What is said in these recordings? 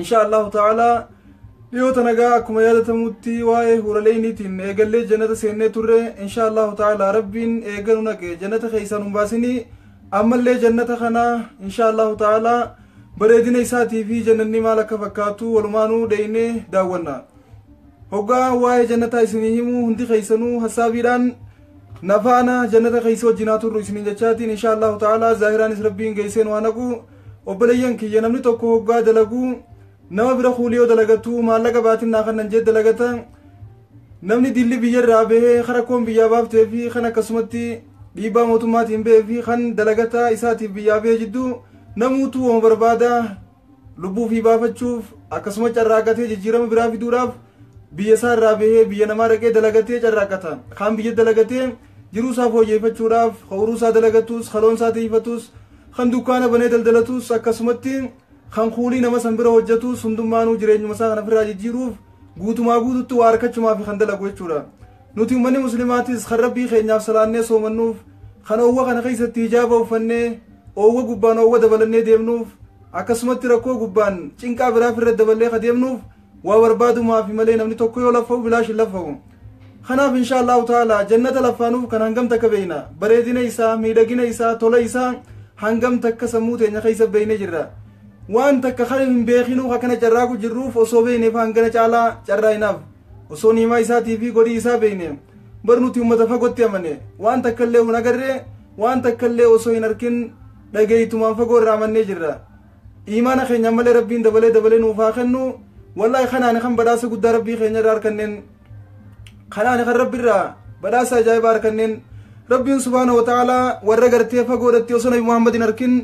insha allahu ta'ala dhiyoota nagaa akkuma yaadatamutti waa'ee huuraleeyniitiin eegallee jannata seennee turre insha allahu ta'ala rabbiin eeganu naqe jannata keessaan hin baasinii ammallee jannata kana insha allahu ta'ala bareedina isaatii fi jannanni maal akka fakkaatu walumaanuu dheeynee daawwanna hoggaa waa'ee jannataa isinii himuu hundi keessanuu hassaabiidhaan nafaana jannata keessa wajjinaa turru isiniin jechaatiin insha allahu ta'ala zaahiraanis rabbiin geesseen waa naqu Obboleeyyan kiyya namni tokko hoggaa dalagu nama bira kuuli yoo dalagatu maallaqa baatin naa kannan jee dalagata namni dilli biyya irraa bahee kan rakkoon biyyaa baaftee fi kan akkasumatti dhiibbaa mootummaatiin bahee fi kan dalagataa isaatiif biyyaa bahee jidduu namuutu wama barbaada lubbuu fi baafachuuf akkasuma carraaqatee jijjiirama biraa fiduudhaaf biyya isaa irraa bahee biyya namaa dhaqee dalagatee carraaqata kaan biyya dalagatee Jiruu isaa fooyyeffachuudhaaf, ka uruu isaa dalagatus, ka loon isaa tiiyfatus, kan dukkaana banee daldalatus, akkasumatti kan kuulii nama san bira hojjatus hundummaanuu jireenyuma isaa kana firraa jijjiiruuf guutumaa guututti waa arkachumaafi kan dalagu jechuudha. Nuti ummanni muslimaatis kan rabbii keenyaaf salaannee soomannuuf, kan oowwa kana keessatti hijaaba uffannee oowwa gubbaan oowwa dabalannee deemnuuf, akkasumatti rakkoo gubbaan cinqaa biraa firra daballee ka deemnuuf, Waa barbaadumaafi malee namni tokko yoo laffa'u bilaash hin laffa'u. Kanaaf inshaa Allaahu ta'aalaa jannata laffaanuuf kan hangam takka beeyna. Bareedina isaa, miidhagina isaa, tola isaa hangam takka sammuu teenya keessa beeyne jirra. Waan takka kan hin beekinuuf akkana carraaqu jirruuf osoo beeyneef hangana caalaa carraa'inaaf. Osoo niimaa isaatii fi godhii isaa beeyne. Bar nuti uummata fagootti amane. Waan takka illee hin agarre, waan takka illee osoo hin arkin dhageeytumaan fagoo irraa amannee jirra. Iimaana keenya ammallee Rabbiin dabalee dabalee nuuf haa kennu. Wallaahi kanaani kan badhaasa guddaa Rabbii keenya irraa harkanneen kanaani kan Rabbi irraa badhaasa ajaa'ibaa harkanneen Rabbiin subhaana wa ta'aalaa warra gartee fagoodhatti osoo Nabi Muhammad hin arkin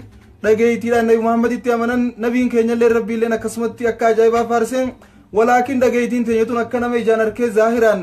dhageeytiidhaan Nabi Muhammaditti amanan Nabiin keenya illee Rabbii illee akkasumatti akka ajaa'ibaa faarse walaakin dhageeytiin teenya tun akka nama ijaan arkee zaahiraan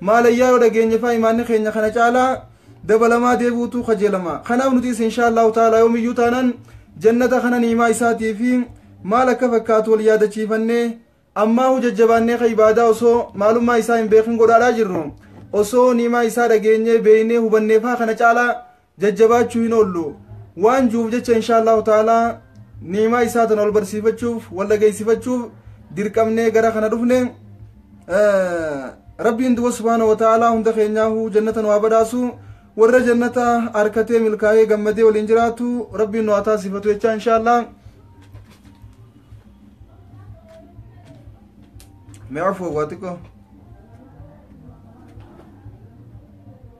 Maalayyaa yoo dhageenyefaa imaanni keenya kana caalaa dabalamaa deebi'utu kajeelama. Kanaaf nutis inshaallahu ta'ala yoomiyyuu taanaan jannata kana ni'imaa isaatii fi maal akka fakkaatu wal yaadachiifannee ammaahu jajjabaannee ka ibaadaa osoo maalummaa isaa hin beekin godhaadhaa jirru osoo ni'imaa isaa dhageenyee beeynee hubanneefaa kana caalaa jajjabaachuu hin oollu. Waan jiruuf jecha inshaallahu ta'ala ni'imaa isaa tana wal barsiifachuuf wal dhageessifachuuf dirqamnee gara kana dhufne. Rabbiin duba subhaanahu wa ta'ala hunda keenyaahuu jannata nu haa badhaasu. Warra jannata harkatee milkaa'ee gammadee waliin jiraatu rabbiin nu haa taasifatu jechaa inshaallah. Mee afoo waa xiqqoo.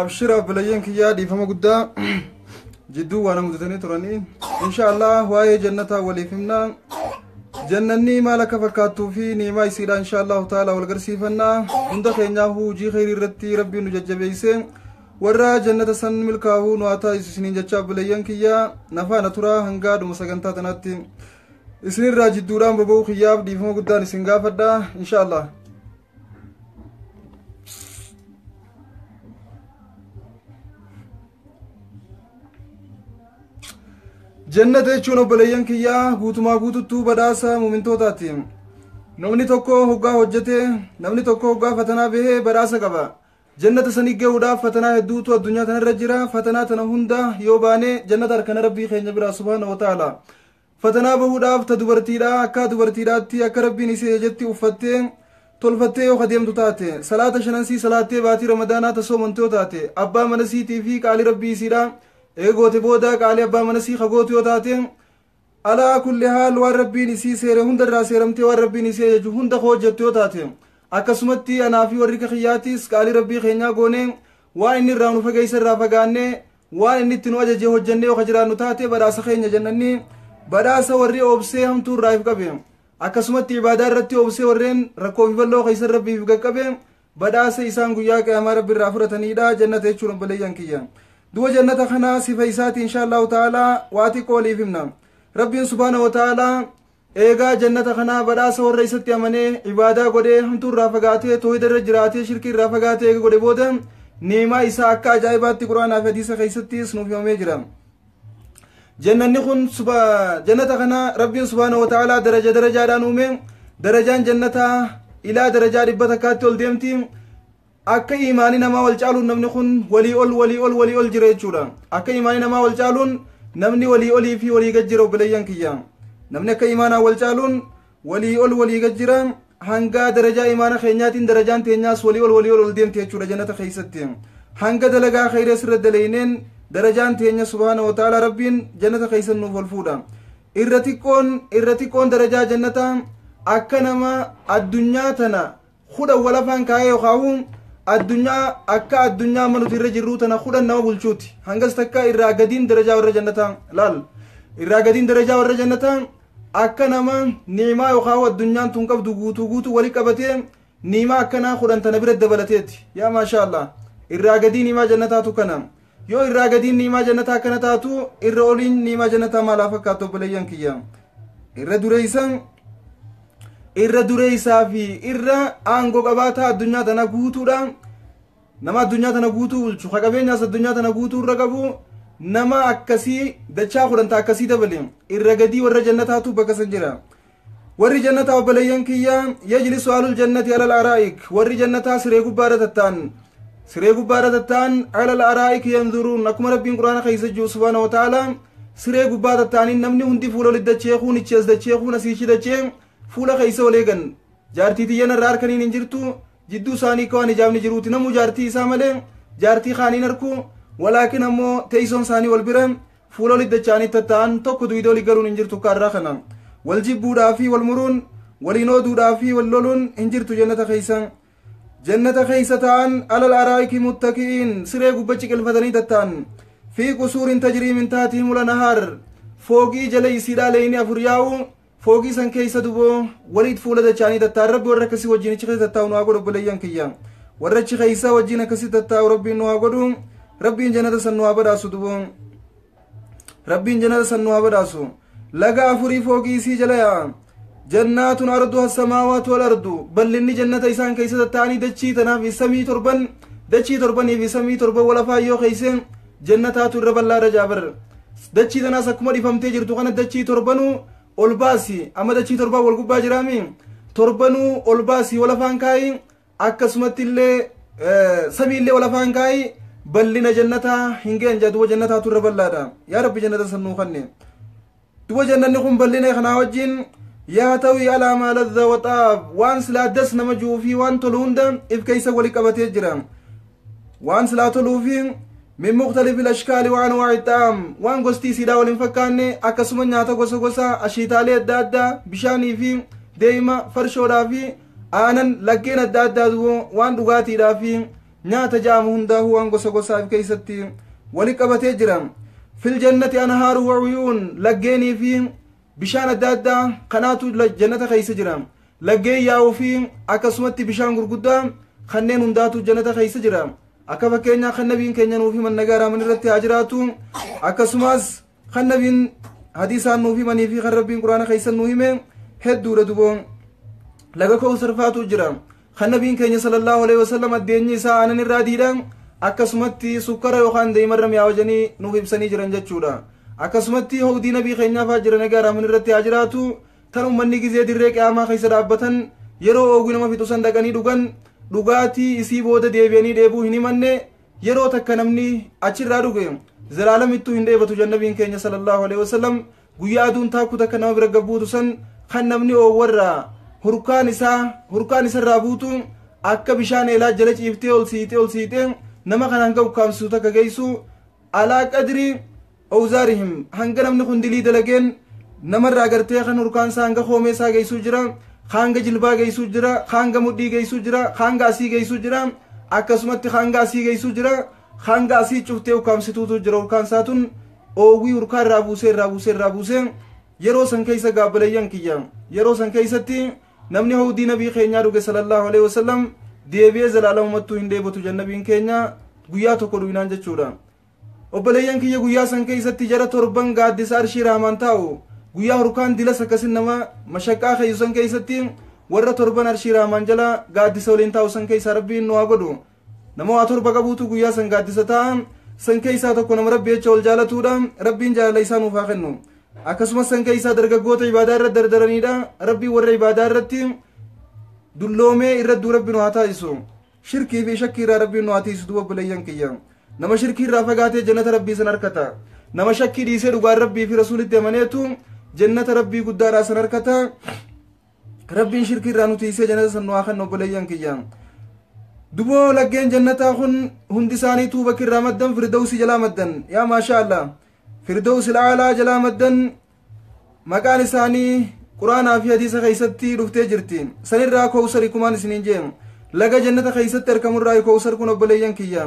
abshira obboleeyyan kiyyaa dhiifama guddaa jidduu waan mudatanii turanii insha allah waa'ee jannataa waliif himna jannanni maal akka fakkaattuu fi niimaa isiidha insha allahu taala wal garsiifanna hunda keenyaa hujii kheyrii irratti rabbiin nu jajjabeeyse warra jannata san milkaa'uu nu haa taasisu isiniin jechaa obboleeyyan kiyyaa nafaana turaa hangaa dhuma sagantaa tanaatti isinirraa jidduudhaan boba'uu kiyyaaf dhiifama guddaan isin gaafadha insha allah jannata jechuun obboleeyyan kiyyaa guutumaa guututtuu badhaasa muumintootaati namni tokko hoggaa hojjete namni tokko hoggaa fatanaa bahee badhaasa qaba jannata sanii ga'uudhaaf fatanaa hedduutu addunyaa tanarra jira fatanaa tana hunda yoo baane jannata harkana rabbii keenya biraa subhaana wa ta'ala Fatanaa bahuudhaaf ta dubartiidhaa akkaa dubartiidhaatti akka Rabbiin isii ajajetti uffattee, tolfattee yoo ka deemtu taate, salaata shanansii salaattee baatii Ramadaanaa ta soomante yoo taate, abbaa manasiitii fii qaalii Rabbii isiidhaa eega goote booda qaalii abbaa manasii ka gootu yoo taate, alaa kulli haal waan Rabbiin isii seere hundarraa seeramtee waan Rabbiin isii ajaju hunda ka hojjattu yoo taate, akkasumatti anaa fii warri ka kiyyaatiis qaalii Rabbii keenyaa goonee waan inni irraa nu fageeyserraa fagaannee Waan inni itti nu ajaje hojjannee yoo ka jiraannu taate badhaasa keenya jannanni badhaasa warri obsee hamtuu irraa if qabe. Akkasumatti ibaadaa irratti obsee warreen rakkoo fi bal'oo keessa rabbiif if qaqqabe badhaasa isaan guyyaa qiyaamaa rabbi irraa fudhataniidha jannata jechuun obboleeyyan kiyya. Du'a jannata kana sifa isaati inshaallahu ta'ala waa xiqqoo waliif himna. Rabbiin subhaana wa ta'ala Eegaa Jannata kana badhaasa warra isatti amanee, ibaadaa godhee, hamtuu irraa fagaatee, toohida irra jiraatee, shirkii irraa fagaatee eega godhe booda ni'imaa isaa akka ajaa'ibaatti Qur'aanaa fi Hadiisa keessattis nuuf himamee jira. Jannanni kun jannata kana Rabbiin subhaanahu wa ta'aalaa daraja darajaadhaan uume. Darajaan jannataa ilaa darajaa dhibba takkaatti ol deemti. Akka iimaani namaa wal caaluun namni kun walii ol walii ol walii ol jira jechuudha. Akka iimaani namaa wal caaluun namni walii olii fi walii gad jira obboleeyyan kiyya. Namni akka iimaanaa wal caaluun walii ol walii gad jira hangaa darajaa iimaana keenyaatiin darajaan teenyaas walii ol walii ol ol deemti jechuudha jannata keessatti. Hanga dalagaa khayrees irra daleeyneen darajaan teenya subhaana wa ta'ala rabbiin jannata keessan nuuf ol fuudha. Irra xiqqoon irra xiqqoon darajaa jannataa akka nama addunyaa tana kudhan walafaan kaa'ee yokaawuun addunyaa akka addunyaa amma nuti irra jirruu tana kudhan nama bulchuuti hangas takka irraa gadiin darajaa warra jannataa laal irraa gadiin darajaa warra jannataa akka nama niimaa yokaawuu addunyaan tun qabdu guutuu guutuu wali qabatee niimaa akkanaa kudhan tana bira dabalateeti yaa maashaa allah irraa gadii niimaa jannataatu kana Yoo irraa gadiin ni'imaa jannataa akkana taatu irra oliin ni'imaa jannataa maal haa fakkaatu obboleeyyan kiyya irra dureeysan irra dureeysaa fi irra aangoo qabaataa addunyaa tana guutuudha nama addunyaa tana guutuu bulchu ka qabeenyaas addunyaa tana guutuu irra qabu nama akkasii dachaa kudhanta akkasii dabale irra gadii warra jannataatu bakka san jira Warri jannataa obboleeyyan kiyya yajlisu alul jannati alal araa'ik warri jannataa siree gubbaadha tattaan siree gubbaadha tattaan alal araa'ik yanzuruun akkuma rabbiin quraana keessa jiru subhaana wa ta'ala siree gubbaa tattaaniin namni hundi fuula oli dachee kuun ichi as dachee kuun asiichi dachee fuula keessa ol eegan jaartii tiyyan irraa harkaniin hin jirtu jidduu isaanii akka waan hijaabni jiruuti namuu jaartii isaa malee jaartii kaaniin harku walaakin ammoo teessoon isaanii wal bira Fuula oli dacha'anii tatta'an tokko duyda oli galuun hin jirtu akka arraa kana. Wal jibbuudhaa fi wal muruun, waliin ooduudhaa fi wal loluun hin jirtu jannata keessa. Jannata keessa ta'an alal araa'iki muttaki'iin siree gubba ciqilfatanii tatta'an. Fi qusuurin tajrii min taatihim ula nahaar. Fooqii jala isiidhaa leeyni afur yaa'u Foogii san keessa duboo waliit fuula dachaanii tattaan rabbi warra akkasii wajjin achi keessa tattaa'u nu haa godhu obboleeyyan kiyya. Warra achi keessa wajjin akkasii tattaa'u rabbiin nu haa godhu rabbiin jannata san nu haa badhaasu duboo. Rabbiin jannata san nu haa badhaasu. Laga afurii foogii isii jala yaa'a. Jannaatun ardu hassamaawaat wal ardu bal'inni jannata isaan keessa tattaa'anii dachii tanaaf samii torban dachii torbanii fi samii torban wal afaan yoo keessa Jannataatu irra bal'aadha jaa bar. Dachii tanaas akkuma dhifamtee jirtu kana dachii torbanuu ol baasi. Amma dachii torbaan wal gubbaa jiraami. Torbanuu ol baasi wal afaan kaayi. Akkasumatti illee eh, samii illee wal afaan kaayi. Bal'ina jannataa hin ga'an jaa duuba jannataatu irra bal'aadha. Yaa Rabbi jannata san nuu kanne. Duba jannanni kun bal'ina kanaa wajjin yaa ta'uyi alaa maa ladhaa waxaaf waan silaa das nama ji'uu fi waan tolu hunda if keessa wali qabatee jira. Waan silaa toluu fi min muqtalifi lashkaali waan waa ittaam waan gosti isiidhaa wal hin fakkaanne akkasuma nyaata gosa gosa ashiitaalee adda addaa bishaanii fi deema farshoodhaa fi aanan laggeen adda addaa dubo waan dhugaatiidhaa fi Nyaata ja'amu hundaahuu waan gosa gosaa if keessatti wali qabatee jira. Fil jannati anhaaru wa uyuun laggeenii fi bishaan adda addaa kanaatu jannata keessa jira. Laggeen yaa'uu fi akkasumatti bishaan gurguddaa kanneen hundaatu jannata keessa jira. Akka fakkeenyaa kan nabiin keenya nuuf himan nagaa raaman irratti haa jiraatu. Akkasumas Kan nabiin hadiisaan nuuf himanii fi kan rabbiin quraana keessan nu hime hedduudha duboo. Laga kowsar faatu jira. Kan nabiin keenya sallallahu alaihi wasallam addeenyi isaa aanan irraa diidha. Akkasumatti sukkara yookaan deemarra mi'aa wajanii nuuf ibsanii jiran jechuudha. Akkasumatti hawdii nabii keenyaa fa'aa jiran egaa raamin irratti haa jiraatu. Tan ummanni gizee dirree qiyaamaa keessa dhaabbatan yeroo oogwi nama fixu san dhaqanii dhugan dhugaatii isii booda deebi'anii dheebuu hin himanne yeroo takka namni achirraa dhuge zalaalamittuu hin dheebatu jan nabiin keenya sallallahu alaihi wasallam guyyaa aduun taakku takka nama bira gabbuutu san kan namni oowwarraa hurkaan isaa hurkaan isarraa buutu akka bishaan eelaa jala ciiftee ol siitee ol siitee nama kan hanga ukkaamsisu takka geessu alaa qadrii awzaarihim hanga namni kun dilii dalageen namarraa gartee kan urkaansaa hanga koomeesaa geessuu jira hanga jilbaa geessuu jira hanga mudhii geessuu jira hanga asii geessuu jira akkasumatti hanga asii geessuu jira hanga asii cuftee ukkaamsituutu jira urkaansaa tun oowwii urkaa irraa buusee irraa buusee irraa buusee yeroo san keessa gaabbalayyan kiyya yeroo san keessatti namni hawdii nabii keenyaa dhuge sallallahu alaihi wasallam deebi'ee zalaalamumattuu hin dheebotu jannabiin keenya guyyaa tokko dhuginaan jechuudha Obboleeyyan kiyya guyyaa san keeysatti jara torban gaaddisa arshii rahmaan taa'u guyyaa hurkaan dilas akkasin nama mashaqqaa keeyu san keeysatti warra torban arshii rahmaan jala gaaddisa waliin taa'u san keeysaa rabbiin nu haa godhu nama waa torba qabuutu guyyaa san gaaddisa taa'a san keeysaa tokko nama rabbi jecha wal jaalatuudha rabbiin jaalala isaa nuuf haa kennu akkasumas san keeysaa dargaggoota ibaadaa irra dardaraniidha rabbiin warra ibaadaa irratti dulloomee irradduu rabbi nu haa taasisu Shirkii fi shakkii irraa Rabbiin nu haa tiisu duuba obboleeyyan kiyya. Nama shirkii irraa fagaatee jannata Rabbii san harkata. Nama shakkii dhiisee dhugaan Rabbii fi Rasuulitti amaneetu jannata Rabbii guddaadhaa san harkata. Rabbiin shirkii irraa nu tiisee jannata san nu haa kennu obboleeyyan kiyya. Duboo laggeen jannataa kun hundi isaaniituu bakki irraa maddan firdawsii jalaa maddan. Yaa maashaa Allah. Firdawsi laalaa jalaa maddan maqaan isaanii quraanaa fi hadiisa keessatti dhuftee jirti sanirraa kowsari kumaan isiniin jee laga jannata keessatti arkamurraa kowsar kun obboleeyyan kiyya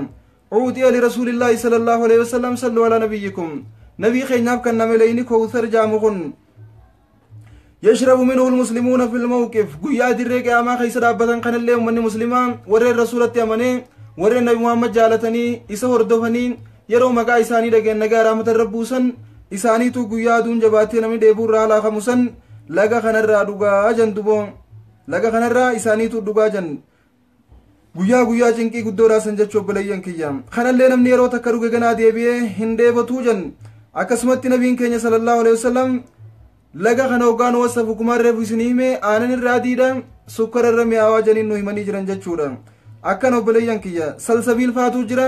cuuxiya lirasuulillaahi sala allaahu alehi wasalam sallu alaa nabiyyikum nabii keenyaaf kan nameleyni kowsar jaamu kun yashrabu minhu lmuslimuuna fi lmawqif guyyaa dirree qiyaamaa keessa dhaabbatan kanallee ummanni muslimaa warreen rasuulatti amanee warreen nabi muhammad jaalatanii isa hordofanii Yeroo maqaa isaanii dhagayan nagaa raamata irra buusan isaaniituu guyyaa aduun jabaatee namni dheebuu irraa halaa kamu san laga kanarraa dhugaa jan duboo laga kanarraa isaaniituu dhugaa jan guyyaa guyyaa cinqii guddoo raasan jechuu obboleeyyan kiyya kanallee namni yeroo takka dhuge ganaa deebi'ee hin dheebotuu jan akkasumatti nabiin keenya sallallahu alaihi wasallam laga kana hoggaan wasa fukumaan reefu isin hime aanan irraa adiidha sukkara irra mi'aawaa janiin nu himanii jiran jechuudha akkan obboleeyyan kiyya salsabiil faatuu jira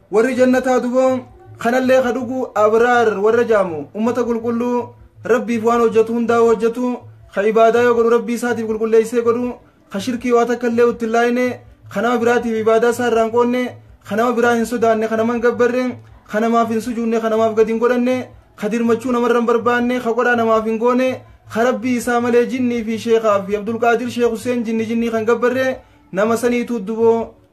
warri jannataa duba kanallee ka dhugu abraar warra jaamu ummata qulqulluu rabbiif waan hojjetu hundaa hojjetu ka ibaadaa yoo godhu rabbii isaatiif qulqulleessee godhu ka shirkii waa takka illee utti hin laayine ka nama biraatiif ibaadaa isaa irraa hin qoonne ka nama biraa hin sodaanne ka nama hin gabbarre ka namaaf hin sujuunne ka namaaf gadi hin godhanne ka dirmachuu namarra hin barbaanne ka qodhaa namaaf hin goone ka rabbii isaa malee jinnii fi sheekaa fi abdulqaadir sheek huseen jinni jinnii kan gabbarre nama saniituu duboo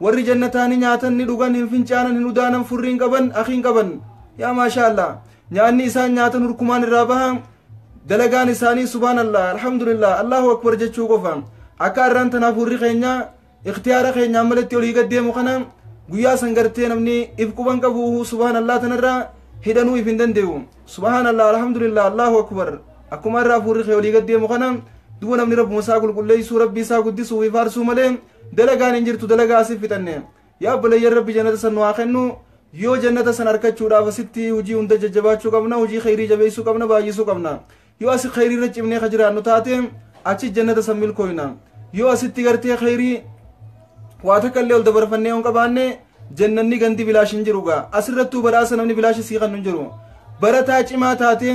Warri jannataa ni nyaatan ni dhugan hin fincaanan hin udaanan furri hin qaban akhi hin qaban yaa maashaa allah nyaanni isaan nyaatan hurkumaan irraa baha dalagaan isaanii subhaanallah alhamdulillah allahu akbar jechuu qofa akka arraan tanaaf hurri keenya ikhtiyaara keenyaan malatti olii gad deemu kana guyyaa san gartee namni if quban qabu subhaanallah tanarraa hidhanuu if hin dandee'u subhaanallah alhamdulillah allahu akbar akkuma irraa fuurri kee olii gad deemu kana duba namni rabbuma isaa qulqulleessuu rabbii isaa guddisuu fi faarsuu malee dalagaan hin jirtu dalagaa asif fixanne yaa obboleeyyan rabbi jannata san nu haa kennu yoo jannata san arkachuudhaaf asitti hojii hunda jajjabaachuu qabna hojii kheyrii jabeessuu qabna baay'isuu qabna yoo asi kheyrii irra cimnee ka jiraannu taate achi jannata san milkooyna yoo asitti gartee kheyrii waa takka illee ol dabarfannee hin qabaanne Jannanni gandi bilaash hin jiru gaa. Asirrattuu badhaasa namni bilaashi sii kannu hin jiru. Barataa cimaa taatee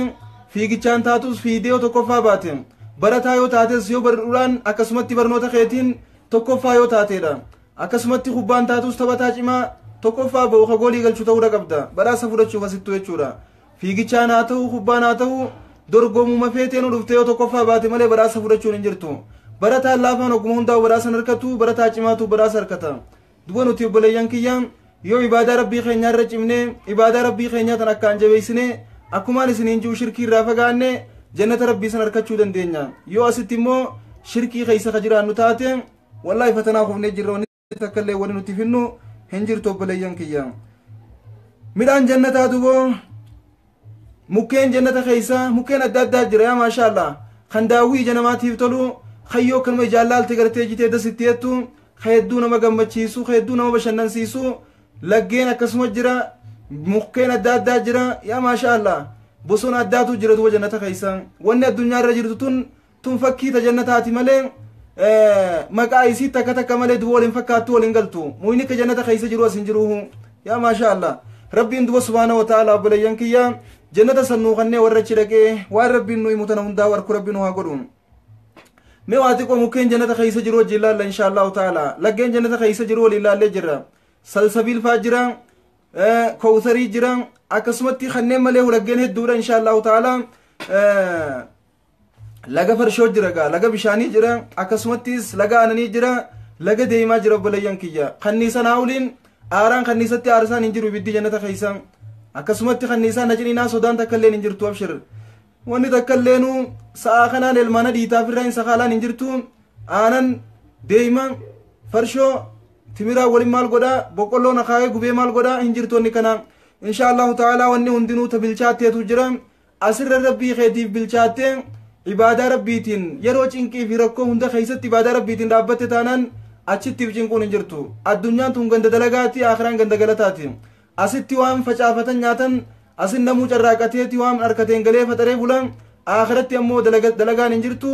fiigichaan taatus fiidee yoo tokkoffaa baate barataa yoo taates yoo barruudhaan akkasumatti barnoota keetiin tokkoffaa yoo taateedha. Akkasumatti kubbaan taatus taphataa cimaa tokkoffaa ba'u ka goolii galchu ta'uudha qabda. Badhaasa fudhachuuf asittuu jechuudha. Fiigichaan haa ta'u kubbaan haa ta'u dorgomuma feetee nu dhuftee yoo tokkoffaa baate malee badhaasa fudhachuun hin jirtu. Barataan laafaan ogguma hundaa'u badhaasa hin harkatu barataa cimaatu badhaasa harkata. Duba nuti obboleeyyan kiyya yoo ibaadaa rabbii keenyaa irra cimnee ibaadaa rabbii keenyaa tan akkaan jabeessine akkumaan isiniin ji'u shirkii irraa fagaanne jannata rabbii san arkachuu dandeenya yoo asitti immoo shirkii keessa ka jiraannu taate wallaahi fatanaa kufnee jirra wanni takka illee wanni nuti finnu hin jirtu obboleeyyan kiyya midhaan jannataa duboo Mukkeen jannata keessa mukkeen adda addaa jira yaa maashaa Allah. Kan daawwii ija namaatiif tolu kan yoo kanuma ijaan laalte gartee jitee das itti jettu kan hedduu nama gammachiisu kan hedduu nama bashannansiisu laggeen akkasuma jira mukkeen adda addaa jira yaa maashaa Allah. Bosona addaatu jira duuba jannata keessa. Wanni addunyaa irra jirtu tun tun fakkii ta jannataati malee maqaa isii takka takka malee duba waliin fakkaattu waliin galtu muyni ka jannata keessa jiru as hin jiruhu yaa maashaa allah rabbiin duba subhaana wa ta'ala obboleeyyan kiyya jannata san nuu kannee warra achi dhaqee waan rabbiin nu himu tana hundaa warku rabbiin waa godhu mee waa xiqqoo mukkeen jannata keessa jiru wajjin ilaalla inshaa allahu ta'ala laggeen jannata keessa jiru waliin ilaallee jirra salsabiil faa jira kowsarii jira akkasumatti kanneen malee laggeen hedduudha inshaa allahu ta'ala laga farshoo jira gaa laga bishaanii jira akkasumattis laga aananii jira laga deemaa jira obboleeyyan kiyya kanniisan haawuliin aaraan kanniisatti aarsaan hin jiru ibiddi jannata keessa akkasumatti kanniisaan haciniinaa sodaan takka illeen hin jirtu abshir wanni takka illeenu sa'aa kanaan elmaana dhiitaaf irraa hin sakaalaan hin jirtu aanan deema farshoo timiraa waliin maal godhaa boqqolloon akaayee gubee maal godhaa hin jirtu wanni kana insha allahu ta'aalaa wanni hundinuu tabilchaatteetu jira Asirra Rabbii keetiif bilchaattee ibaadaa Rabbiitiin yeroo cinqii fi rakkoo hunda keessatti ibaadaa Rabbiitiin dhaabbatte taanaan achitti if cinquun hin jirtu. Addunyaan tun ganda dalagaati, aakiraan ganda galataati. Asitti waan facaafatan nyaatan, asin namuu carraaqateeti waan harkateen galee faxaree bula, aakiratti ammoo dalagaan hin jirtu.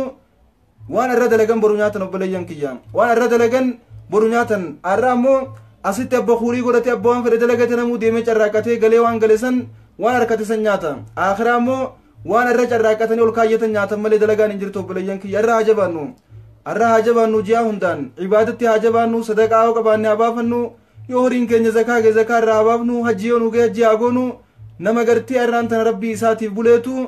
Waan arra dalagan boru nyaatan obboleeyyan kiyya. Waan arra dalagan boru nyaatan. Arra ammoo asitti abba kuurii godhatee abba waan fedhe dalagate namuu deemee carraaqqatee galee waan gale san waan harkate san nyaata. Akhiraa ammoo waan arra carraaqqatanii ol kaayyatan nyaatan malee dalagaan hin jirtu obboleeyyan kiyya arra haa jabaannu. Arra haa jabaannu ji'aa hundaan ibaadatti haa jabaannu sadaqaa yoo qabaanne haa baafannu yoo horiin keenya zakaa ga'e zakaa irraa haa baafnu hajji yoo nu ga'e hajji haa goonu nama gartee arraan tana rabbii isaatiif buleetu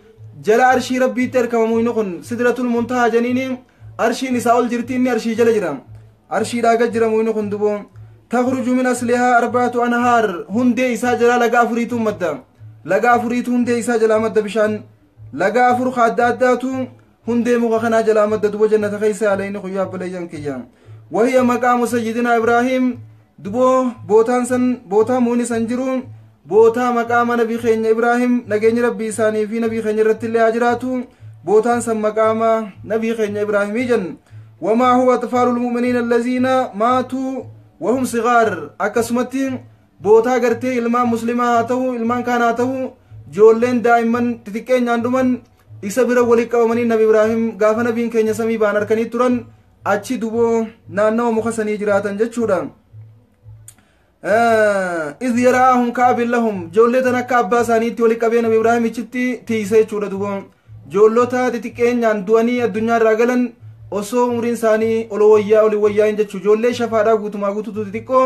jala arshii rabbiitti argama muyni kun sidratul muntahaa janiini arshiin isaa ol jirti inni arshii jala jira arshiidhaa gad jira muyni kun duboo takhruju min aslihaa arbaatu anhaar hundee isaa jalaa laga afuriitu madda laga afuriitu hundee isaa jalaa madda bishaan laga afur ka adda addaatu Hundee muka kanaa jalaa madda duba jannata keessa yaalayni kun yaa obboleeyyan kiyya. Wahiya maqaamu sayyidinaa Ibraahiim duboo bootaan san bootaa muuni san jiru bootaa maqaama nabi keenya Ibraahiim nageenyi rabbii isaanii fi nabii keenya irratti illee haa jiraatu bootaan san maqaama nabii keenya Ibraahimii jenna. Wamaa huwa atfaalul mu'miniina allaziina maatuu wahum sigaar akkasumatti bootaa gartee ilmaan muslimaa haa ta'u ilmaan kaan haa ta'u joolleen daa'imman xixiqqeenyaan dhuman isa bira walitti qabamanii nabi ibraahim gaafa nabiin keenya samii ba'an harkanii turan achi duboo naannawa muka sanii jiraatan jechuudha iz yaraahum kaabin lahum joollee tan akka abbaa isaaniitti walitti qabee nabi ibraahim ichitti tiise jechuudha duboo joollota xixiqqeenyaan du'anii addunyaa irraa galan osoo umriin isaanii ol wayyaa oli wayyaa hin jechuu joollee shafaadhaa guutumaa guututu xixiqqoo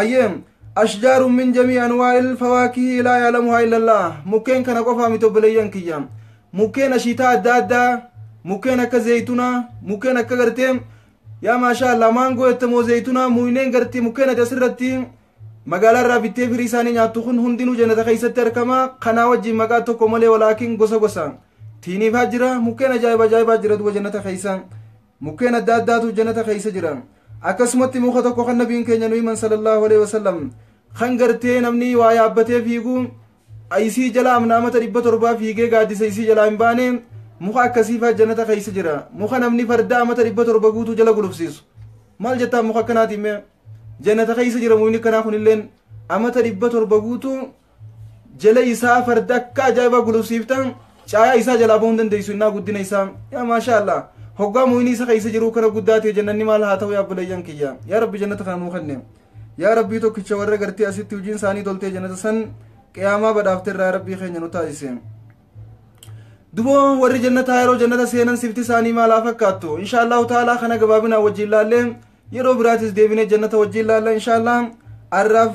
ayyee ashjaarun min jamii anwaa'il fawaakihii laa yaalamuhaa illallah mukkeen kana qofaa miti obboleeyyan kiyya mukkeen ashiitaa adda addaa mukkeen akka zeeytunaa mukkeen akka gartee yaa maashaa allah maangoo ettamoo zeeytunaa muyneen gartee mukkeen ati asirratti magaalaa irraa bittee firii isaanii nyaattu kun hundinuu jannata keessatti argama kanaa wajjin maqaa tokko malee walaakin gosa gosa tiiniifaa jira mukkeen ajaa'iba ajaa'ibaa jira duba jannata keessa Mukkeen adda addaatu janata keessa jira. Akkasumatti muka tokko kan nabiin keenya nu himan sallallahu alaihi wasallam kan gartee namni waa yaabbatee fiigu isii jala amna amata dhibba torbaa fiigee gaaddisa isii jalaa hin baane muka akkasiifaa janata keessa jira. Muka namni farda amata dhibba torba guutuu jala gulufsiisu. Maal jettaa muka akkanaatiin mee? Janata keessa jira mukni kanaa kunilleen amata dhibba torba guutuu jala isaa farda akka ajaa'ibaa gulufsiifta caayaa isaa jalaa ba'uu hin dandeessu innaa guddina isaa yaa maashaa allah hoggaa mu'inii isa keessa jiruu kana guddaa ta'e jannanni maal haa ta'u yaa buleeyyan kiyya yaa rabbi jannata kana nuu kenne yaa rabbii tokkicha warra gartee asitti hojiin isaanii toltee jannata san qiyaamaa badhaafte irraa rabbii keenya nu taasise duboo warri jannataa yeroo jannata seenan sifti isaanii maal haa fakkaattu insha allahu ta'aalaa kana gabaabinaa wajjin laallee yeroo biraatis deebinee jannata wajjin laalla insha allah arraaf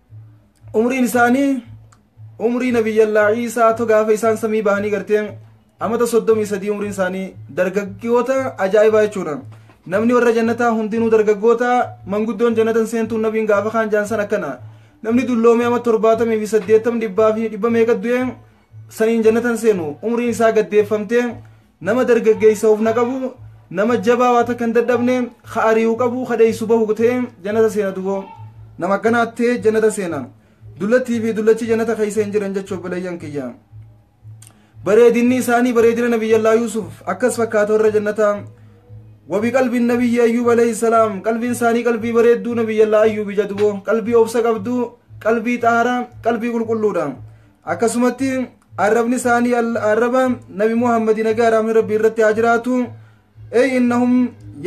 umriin isaanii umrii nabiyyallaa ciisaa to gaafa isaan samii bahanii gartee amata soddomii sadii umriin isaanii dargaggoota ajaa'ibaa jechuudha namni warra jannataa hundinuu dargaggoota manguddoon jannatan seentuun nabiin gaafa kaan jaansan akkana namni dulloomee ama torbaatamii fi saddeettam dhibbaa fi dhibba meeqa du'e saniin jannatan seenu umriin isaa gaddeeffamtee Nama dargaggeessa hufna qabu, nama jabaa waa takka hin dadhabne, ka ari'u qabu, ka dheessu bahu ta'ee jannata seena duboo. Nama akkanaa ta'ee jannata seena. Dullattii fi dullachi jannata keessa hin jiran jechuun obboleeyyan kiyya. Bareedinni isaanii bareedina nabiyyallaa Yuusuf akkas fakkaata warra jannataa. Wabi qalbiin nabiyyi Ayyuub alayhi salaam qalbiin isaanii qalbii bareedduu nabiyyallaa Ayyuubi jaduboo qalbii obsa qabdu qalbii xaharaa qalbii qulqulluudha. akkasumatti arrabni isaanii al- arraba nabi muhammadi nagaa raamni rabbii irratti haa jiraatu ey innahum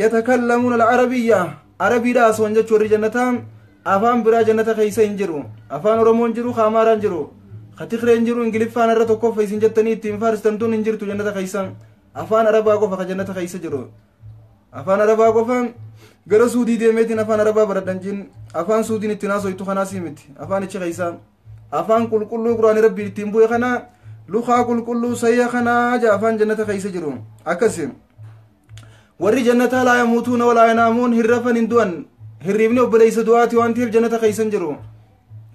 yatakallamuuna alcarabiyya arabiidha asoon jechu warri jannata afaan biraa jannata keeysa hin jiru afaan oromoon jiru ka amaaraan jiru ka tigreen jiru ingiliffaan irra tokkoffa isin jettanii ittiin faarstan tun hin jirtu jannata keeysa afaan arabaa qofa ka jannata keeysa jiru afaan arabaa qofa gara suudii deemeetiin afaan arabaa baradhan jin afaan suudiin ittiin haasoytu kanaasii miti afaan ichi keeysaa afaan qulqulluu quraani rabbiin ittiin bu'e kana lukaa qulqulluu sayya kanaa ja afaan jannata keessa jiru akkasi warri jannataa laa yamuutuuna walaa yanaamuun hin rafan hin du'an hirriibni obboleessa du'aati waan ta'eef jannata keessa hin jiru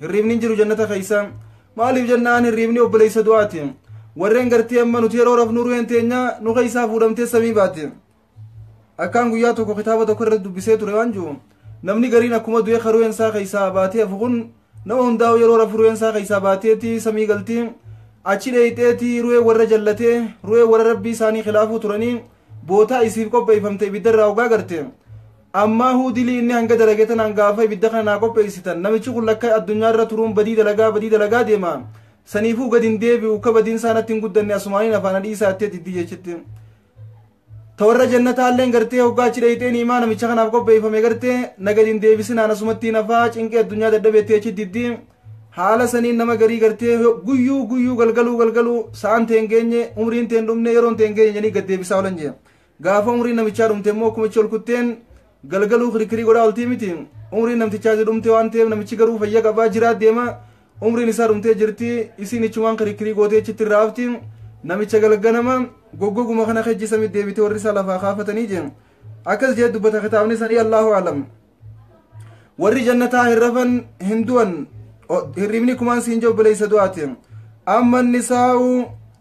hirriibni hin jiru jannata keessa maaliif jennaan hirriibni obboleessa du'aati warreen gartee amma nuti yeroo rafnu ruheen teenya nu keessaa fuudhamtee samii baati Akkaan guyyaa tokko kitaaba tokko irratti dubbisee ture waan jiru namni gariin akkuma du'ee ka ru'een isaa keessaa baatee hafu kun nama hundaa'u yeroo rafu ru'een isaa keessaa baateeti samii galti achi dheeyxeeti ru'ee warra jallatee ru'ee warra rabbii isaanii khilaafuu turanii bootaa isiif qopheeffamte ibiddarraa ogaa garte ammaa huu dilii inni hanga dalage tanaan gaafa ibidda kana naa qopheessitan namichi kun lakka addunyaa irra turuun badii dalagaa badii dalagaa deema saniifuu gadi hin deebi'u ka badiin isaa natti hin guddanne asumaaniin afaana dhiisaa ittee diddi jechitti ta warra jannataalleen gartee hoggaa achi dheeyxee ni'imaa namicha kanaaf qopheeffame gartee na gadi hin deebisinaan asumatti hin hafaa cinqii addunyaa dadhabeetti achi diddi haala saniin nama garii gartee guyyuu guyyuu galgaluu galgaluu sa'aan ta'e hin geenye umriin ta'e hin dhumne yeroon ta'e hin geenye jedhanii gad deebisaa oolan jee gaafa umriin namichaa dhumte immoo kumichi ol kutteen Galgaluu kirkirii godhaa oltii miti. Umriin namtichaa si dhumte waan ta'eef namichi garuu fayya qabaa jiraa deema. Umriin isaa dhumtee jirti. Isiin ichumaan kirkirii gootee achitti irraa hafti. Namicha galganama goggoguma kana kejji samit deebite warri isaa lafaa kaafatanii jeen. Akkas jee dubbata kitaabni sanii Allahu alam. Warri jannataa hin rafan hin du'an hirribni kumaan siin jobboleessa du'aati. Amma nisaa'u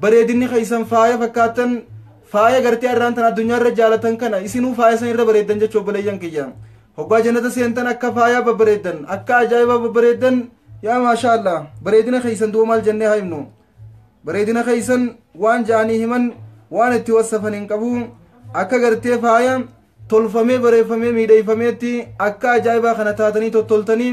Bareedinni keessan faaya fakkaattan faaya gartee arraan tan addunyaa irra jaalatan kana isinuu faaya san irra bareeddan jechu obboleeyyan kiyya. Hoggaa jannata seentan akka faayaa babbareeddan akka ajaa'ibaa babbareeddan yaa maashaa Allah bareedina keessan duuba maal jennee haa himnu. Bareedina keessan waan ja'anii himan waan itti wassafan hin qabu akka gartee faaya tolfamee bareeffamee miidheeffameetti akka ajaa'ibaa kana taatanii tottoltanii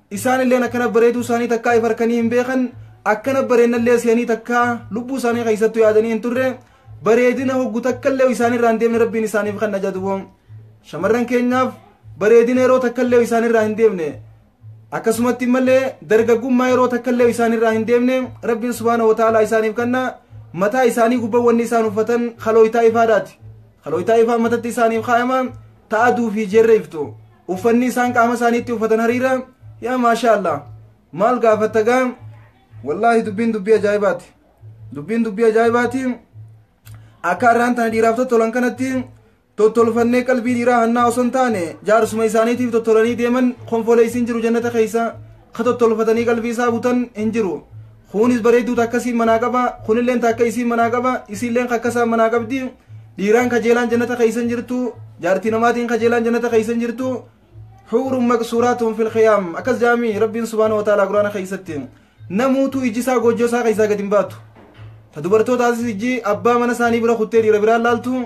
Isaanilleen akkana bareeduu isaanii takkaa if harkanii hin beekan, akkana bareennallee se'anii takkaa lubbuu isaanii keessattu yaadanii hin turre, bareedina hoggu takkallee isaanirraa hin deemne Rabbiin isaaniif kan najaduwoo. Shamarran keenyaaf bareedina yeroo takkallee isaanirraa hin deemne. Akkasumatti malee dargaggummaa yeroo takkallee isaanirraa hin deemne Rabbiin subhaana wa ta'aalaa isaaniif kanna mataa isaanii gubbaa wanni isaan uffatan kalooytaa ifaadhaati. Kalooytaa ifaa matatti isaaniif kaa'ama ta'aduu fi jeerreeftu. Uffanni isaan qaama isaaniitti uffatan hariira yaa maashaa Allah maal gaafatta gaa wallaahi dubbiin dubbii ajaa'ibaati dubbiin dubbii ajaa'ibaati akka har'aan tana dhiiraaf tottolan kanatti tottolfannee qalbii dhiiraa hannaa osoo hin taane jaarsuma isaaniitiif tottolanii deeman konfoleessiin jiru jannata keessa ka tottolfatanii qalbii isaa butan hin jiru Kuunis bareedduu takka isiin manaa qaba, kunilleen takka isiin manaa qaba, isiilleen kakka isaan manaa qabdi. Dhiiraan kajeelaan jannata keessa hin jirtu, jaartii namaatiin kajeelaan jannata keessa hin jirtu. Huurun maqsuuraatun fil khiyaam. Akkas jaami Rabbiin subhaanahu wa ta'aalaa Qur'aana keessatti. Namuutu ijji isaa goojjoo isaa keessaa gad hin baatu. Ta dubartootaatis ijji abbaa mana isaanii bira kuttee dhiira biraan laaltu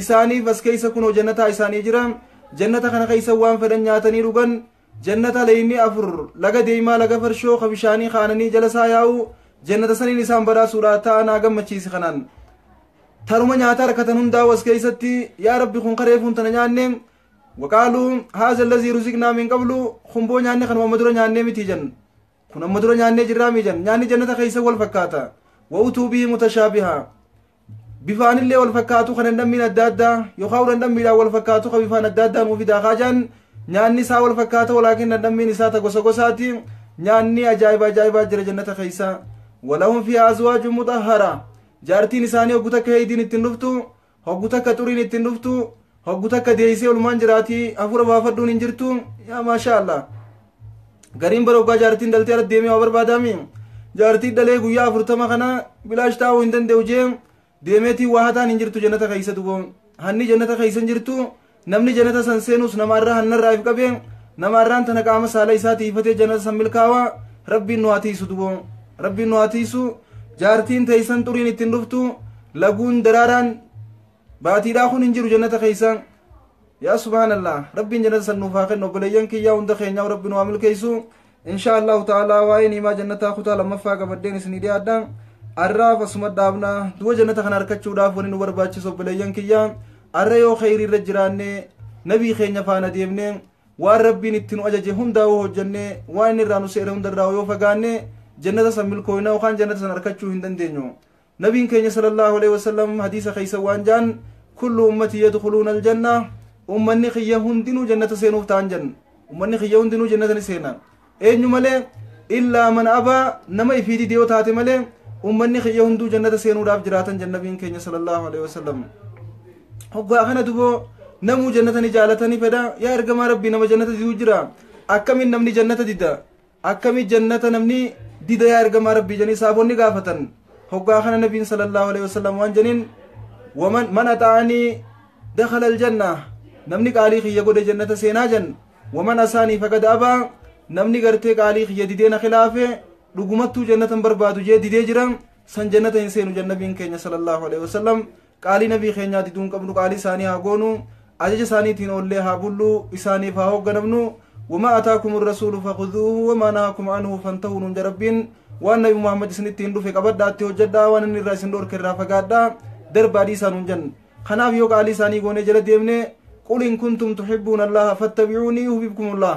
isaaniif as keessa kunoo jannataa isaanii jira jannata kana keessa waan fedhan nyaatanii dhugan jannata leeyni afur laga deeymaa laga farshoo ka bishaanii kaananii jala isaa yaa'u jannata saniin isaan badhaasuudha ta'a naa gammachiisi kanaan taruma nyaata harkatan hundaa'u as keessatti yaa rabbi kun kareefuun tana nyaanne waqaaluu haaza allazii ruziqnaa min qablu kumboo nyaanne kanuma amma dura nyaannee miti jan kun amma dura nyaannee jirraa mi jan nyaanni jannata keessa wal fakkaata wa'utuu bihi mutashaabiha bifaan illee wal fakkaatu kan dhandhammiin adda addaa yookaan dhandhammiidhaan wal fakkaatu kan bifaan adda addaa nuuf fidaa kaajaan nyaanni isaa wal fakkaata walaakin dhandhammiin isaa ta gosa gosaati nyaanni ajaa'iba ajaa'ibaa jira jannata keessa walahum fi azwaaju mutahhara jaartiin isaanii hoggu takka heeydiin ittiin dhuftu hoggu takka xuriin ittiin dhuftu Hoggu takka deeysee olumaan jiraati hafuura baafadhuun hin jirtu yaa maashaa Allah. Gariin bara hoggaa jaartiin dhaltee ala deemee waa barbaadaami. Jaartii dhalee guyyaa afurtama kana bilaash taa'uu hin danda'u jee deemeetiin waa hataan hin jirtu jannata keeysa duboo. Hanni jannata keeysa hin jirtu namni jannata san seenus nama irraa hannarraa if qabee nama irraan tana qaama saala isaa tiifatee jannata san milkaawa rabbiin nu haa tiisu duboo. Rabbiin nu haa tiisu jaartiin teeysan xuriin ittiin dhuftu laguun daraaraan baatiidhaa kun hin jiru jannata keessaan yaa subhaanallah rabbiin jannata san nuuf haa kennu obboleeyyan kiyyaa hunda keenyaa rabbi nu haa milkeessu insha allahu ta'aalaa waa'ee niimaa jannataa kutaa lammaffaa qabadheen isinii dhiyaadha arraaf asuma dhaabna du'a jannata kana arkachuudhaaf wani nu barbaachisu obboleeyyan kiyyaa arra yoo kheyrii irra jiraanne nabii keenya faana deemne waan rabbiin itti nu ajaje hundaa yoo hojjenne waan inni irraa nu seere hundarraa yoo fagaanne jannata san milkooyna yookaan jannata san arkachuu hin dandeenyu Nabiin keenya salallaahu aleyhi wasallam hadiisa keessa waan ja'an kullu ummatii yadkhuluuna aljanna ummanni kiyya hundinuu jannata seenuuf ta'an janna ummanni kiyya hundinuu jannata ni seena eenyu malee illaa man abaa nama ifii dide yoo taate malee ummanni kiyya hunduu jannata seenuudhaaf jiraatan janna nabiin keenya salallaahu aleyhi wasallam hoggaa kana duboo namuu jannata ni jaalatanii fedha yaa ergamaa rabbii nama jannata diduu jira akkamiin namni jannata dida Akkami jannata namni dida yaa ergamaa rabbii janii saabonni gaafatan hoggaa kana nabiin sallallahu alaihi wasallam waan janiin waman man axa'anii dakhala aljanna namni qaalii kiyya godhe jannata seenaa jan waman asaanii faqad abaa namni gartee qaalii kiyya didee na khilaafe dhugumattuu jannatan barbaadu jee didee jira san jannata hin seenu jannabiin keenya sallallahu alaihi wasallam Qaalii nabii keenyaa diduu hin qabnu qaalii isaanii haa goonu ajaja isaaniitiin oollee haa bullu isaaniif haa hoogganamnu wamaa ataakum irrasuulu fakuduuhu wamaa nahaakum anhu fantahuu nuun jedha rabbiin waan nabi muhammad isinitti hin dhufe qabadhaatti hojjedhaa waan inni irraa isin dhorke irraa fagaadhaa darbaa dhiisaa nuun jenna kanaaf yoo qaalii isaanii goonee jala deemne qul in kuntum tuxibbuuna allaha fattabicuunii yuhbibkumullaah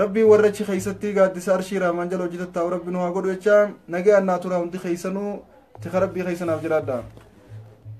Rabbiin warra achi keessatti gaaddisa arshii rahmaan jala hojii tattaa'u rabbi nu haa godhu jecha nagayaan naa turaa hundi keessanuu tika rabbii keessa naaf jiraadha.